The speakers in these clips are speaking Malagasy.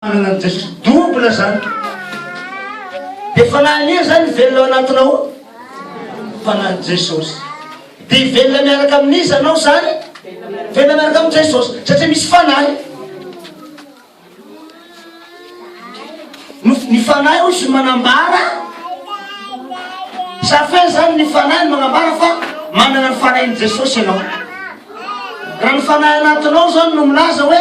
Fananan'i Jesosy double zany. Dia fanahy anie zany mivelona ao anatinao ao. Fanahin'i Jesosy. Dia hivelona miaraka amin'iza anao zany? Hivelona miaraka amin'i Jesosy. Satria misy fanahy. Ny fanahy hoy izy manambara. Safin zany ny fanahy no manambara fa manana ny fanahin'i Jesosy ianao. Raha ny fanahy anatinao zany no milaza hoe.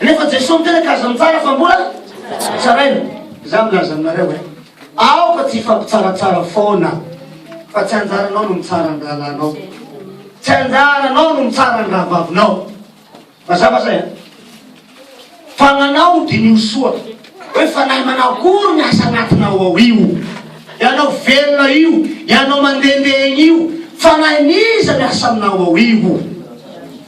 Nefa Jesoa miteraka azy ny tsara fa mbola tsaraina. Za milaza aminareo e, aoka tsy hifampitsaratsara foana fa tsy anjaranao no mitsara ny rahalahinao, tsy anjaranao no mitsara ny rahavavinao. Mazava zay a? Fa manao diniho soa hoe fanahy manao akory ny asa anatinao ao io. Ianao velona io, ianao mandehandeha egny io, fanahin'iza miasa aminao ao io?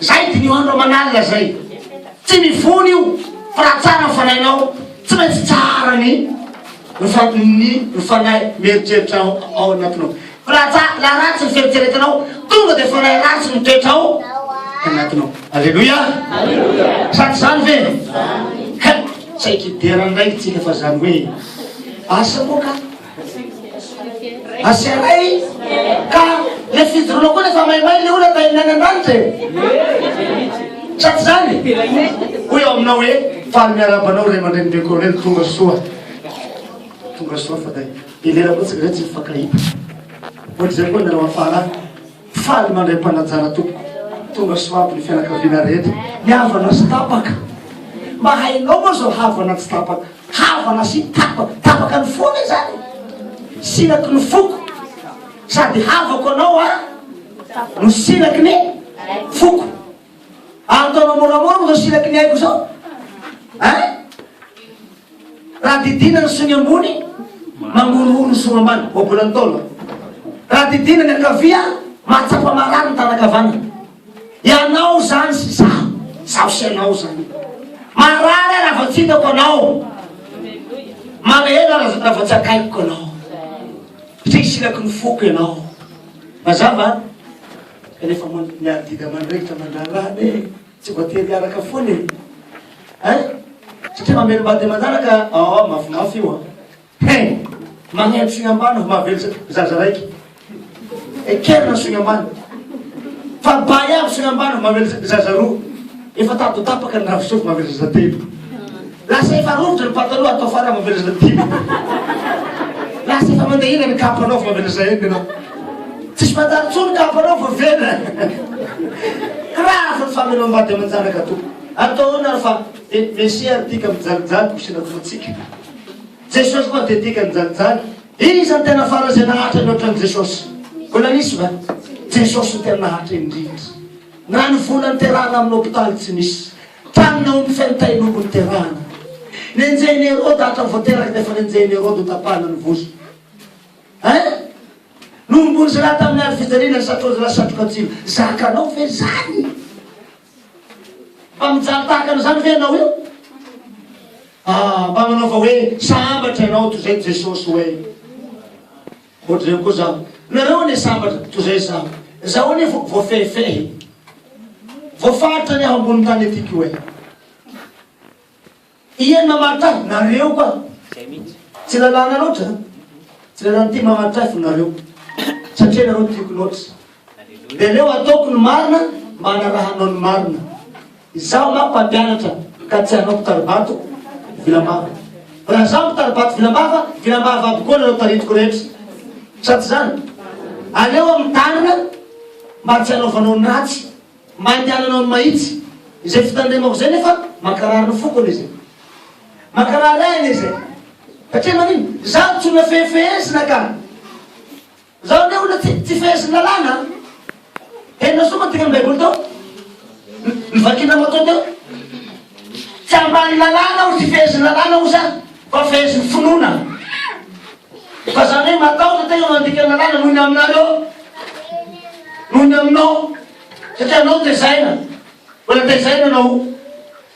Zay diniho andro aman'alina zay. Tsy mivony io fa raha tsara ny fanahinao tsy maintsy tsara ny ny ny fanahy mieritreritra ao ao anatinao. Fa raha tsara raha ratsy ny fieritreretanao tonga dia fanahy ratsy mitoetra ao anatinao. Aleloia. Sady zany ve? Zany. Tsaiky dera ndray tsika fa zany hoe asa moa ka. Asheray ka le fijoroana koa rehefa maimay le olona tain'ny any an-danitra e sa tsy zany hoy ao aminao hoe faly miarahaba anao ray aman-dreny be colonel tonga soa tonga soa fa tay ilera koa tsy tsy mifankahita ohatr'izay koa nareo afara Faly mandray mpanajara tompoko tonga soa aby ny fianakaviana rehetra ny havana sy tapaka mba hainao moa zao havana tsy tapaka havana sy tapaka tapaka ny fo anie zany sinaky ny foko sady havako anao a no sinaky ny foko ataonao moramora moa zao sinaky ny aiko zao a Raha didiana ny sony ambony, mangorohoro ny sony ambany, voabolan'ny taona. Raha didiana ny ankavia, mahatsapa marary ny taranaka havanana. Ianao izany sy izaho, izaho sy ianao izany. Marary aho raha vao tsy hitako anao. Malahelo aho raha vao tsy akaikiko anao. Satria isinaky ny foko ianao. Mazava? Kanefa miadidy aman-drehetra mandrara anay e. Tsy voatery hiaraka foana e! Hein! Satria mamelom-bady ny manaraka aah mafimafy io an! Hein! Magneno sogny ambany vao mahavelona zaza raiky! Ekerina ny sogny ambany! Fa bay avy sogny ambany vao mahavelona zaza roa! Efa tady ho tapaka ny ravi-sofy mahavelona zaza telo! Lasa efa rovitra ny pataloha atao fara mamelatra dimy Lasa efa mandehina ny kapa anaovy mamelatra enina ianao Tsisy mandalo intsony kapa anao fa velona Grave ny fameloam-bady aman-janaka tompoko Atao ahoana ary fa Mesia ary tika mijalijaly ho sinantofantsika Jesosy koa dia tika nijalijaly Iza no tena farany izay naharitra ny ohatran'i Jesosy? Mbola nisy va? Jesosy no tena naharitra indrindra Na ny vola niterahana amin'ny hopitaly tsy nisy Tany naomby feno tain'omby no niterahana. Nenjehin'i Heroda hatrany vao teraka dia efa nenjehin'i Heroda ho tapahana ny vozony. Hein? Nohomboin'i Zala tamin'ny ady fijaliana ny satroan'i Zala satroka tsilo. Zakanao ve izany? Mba mijaly tahaka an'izany ve ianao io? Ah, mba manaova hoe sambatra ianao toy izay Jesosy hoe. Ohatr'ireny koa zaho. Nareo anie sambatra toy izay zaho. Zaho anie vo voafehifehy. Voafaritra ny aho ambonin'ny tany ety ko e. Iany mamaritra ahy, nareo koa. Izay mihitsy. Tsy lalàna loatra an. Tsy lalàna ity mamaritra ahy fa nareo. Satria nareo tiako loatra. Dia aleo ataoko ny marina mba hanarahanao ny marina. Izaho nga mpampianatra ka tsy hanao mpitaribato vilambava. Raha izaho mpitaribato vilambava, vilambava aby koa nareo tarintiko rehetra. Sa tsy izany? Aleo aho mitarina mba tsy hanaovanao ny ratsy, mba handehananao ny mahitsy. Izay fitandremako izay nefa mankarary ny foko anie izay. Mankarary ahy anie izay. Satria manino? Izaho tsy olona fehifehezina ka. Zao le olona tsy tsy fehezin'ny lalàna an! Henonao soa moa ny tenin'ny baiboly teo? Ny vakinao matoa teo? Tsy ambanin'ny lalàna aho, tsy fehezin'ny lalàna aho sa fa fehezin'ny finoana? Fa zany hoe matahotra tena mandika ny lalàna noho ny aminareo, noho ny aminao, satria anao tezaina, mbola tezaina anao.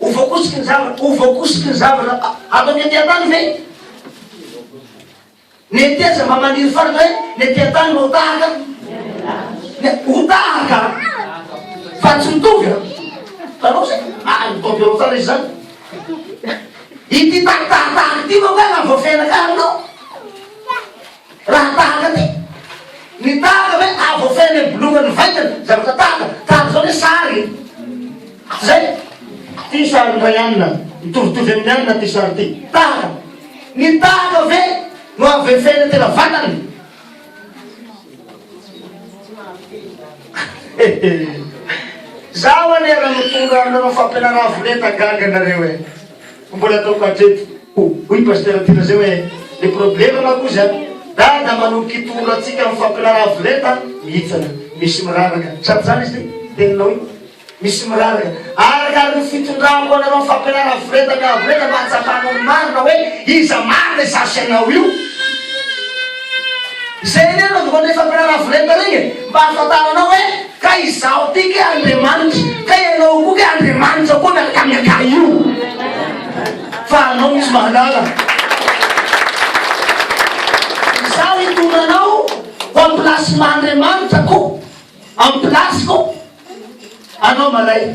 Ho voakosiky ny zavatra, ho voakosiky ny zavatra ato amin'ny andian-tany ve? Ny antiaza mba maniry faritra hoe ny andian-tany mba ho tahaka? Ho tahaka? Fa tsy mitovy an? Tanao zay? Ah, ny taom-piaro tsara izy zany. Ity tahitahitaha ity manko ahy na voafehinakà aminao. Raha tahaka ty. Ny tahaka ve ah voafehiny amy bolongany ny vaingany? Zavatra tahaka. Tahaka zao ny sary e. Tsy zay? Ty sary ndray anina. Mitovitovy amy ny anina ty sary ty. Tahaka. Ny tahaka ve no avefehiny tena vatany? Zaho anie raha mitondra aminareo fampianara avolenta gaga nareo e. Fa mbola ataoko hatreto hoy i Pasitera Ty Razay hoe, Ny problema manko hozy an, Dada manomboka hitoro antsika amin'ny fampirarav lenta mihitsana. Misy miraraka. Sa tsy zany izy ty? Teninao io? Misy miraraka. Arakaraka ny fitondrako anareo amin'ny fampirarav lenta miav lenta no ahatsapanao ny marina hoe iza marina izay asianao io. Izay anie no andohan'ireny fampirarav lenta ireny e, mba ahafantaranao hoe. Ka izaho ity kay Andriamanitra, ka ianao koa kay Andriamanitra koa na kay na kay io, fa anao misy mahalala. Izaho hitondra anao ho amin'ny place maha Andriamanitra koa, amin'ny place-ko, anao malay.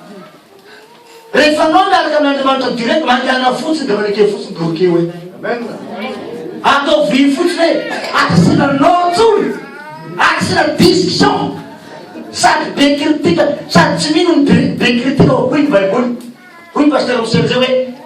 Rehefa anao miaraka amin' Andriamanitra direct mangana fotsiny dia maneke fotsiny dia ok hoe. Ataovy io fotsiny hoe akasina nom tsony, akasina discussion sady be critique sady tsy mino ny be critique hoy ny baiboly hoy ny pasteur Michel zay hoe.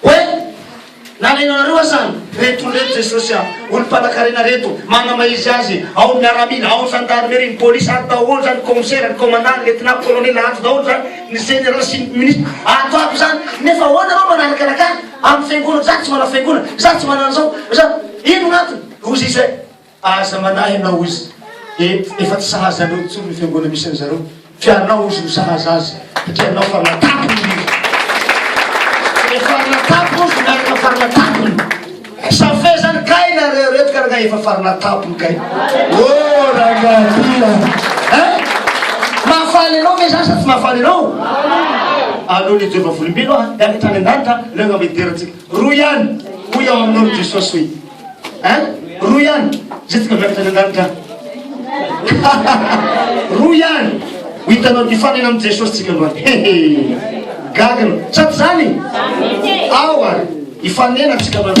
Hoe nalainareo aza an reto olona eto Jesosy a! Olom-panankarena reto, manamaizia azy, ao ny miaramila, ao ny zandarimeri, ny polisy, ato daholo zany ny commissaire, ny commandant, ny lieutenant, ny colonel, ato daholo zany ny general sy ny ministre, ato aby zany, nefa ahoana anao manarakaraka ahy, amin'ny fiangonako, za tsy manao fiangonana, za tsy manana zao, za, ino gnatony? Hozy izay. Aza manahy ianao ozy e efa tsy sahaza anao intsony ny fiangonana misy an zareo fa ianao ozy no sahaza azy satria ianao fa natapony indrindra efa natapony ozy miaraka fa natapony sa fezany kay nareo reto ka rangah efa fa natapony kay o rangahadila eh mahafaly anao ve zany sa tsy mahafaly anao aleo le jehovah volombelo ah miakatra any an-danitra leo angamba hiderantsika rohy ihany hoy ao aminao ry jesosy hoe Hein? Roa ihany? Zay tonga miakatra any an-danitra any. Roa ihany. Ho hitanao ny fifanena amin'i Jesosy tsika androany. Gagana. Sady zany? Ao ary. Hifanena tsika androany.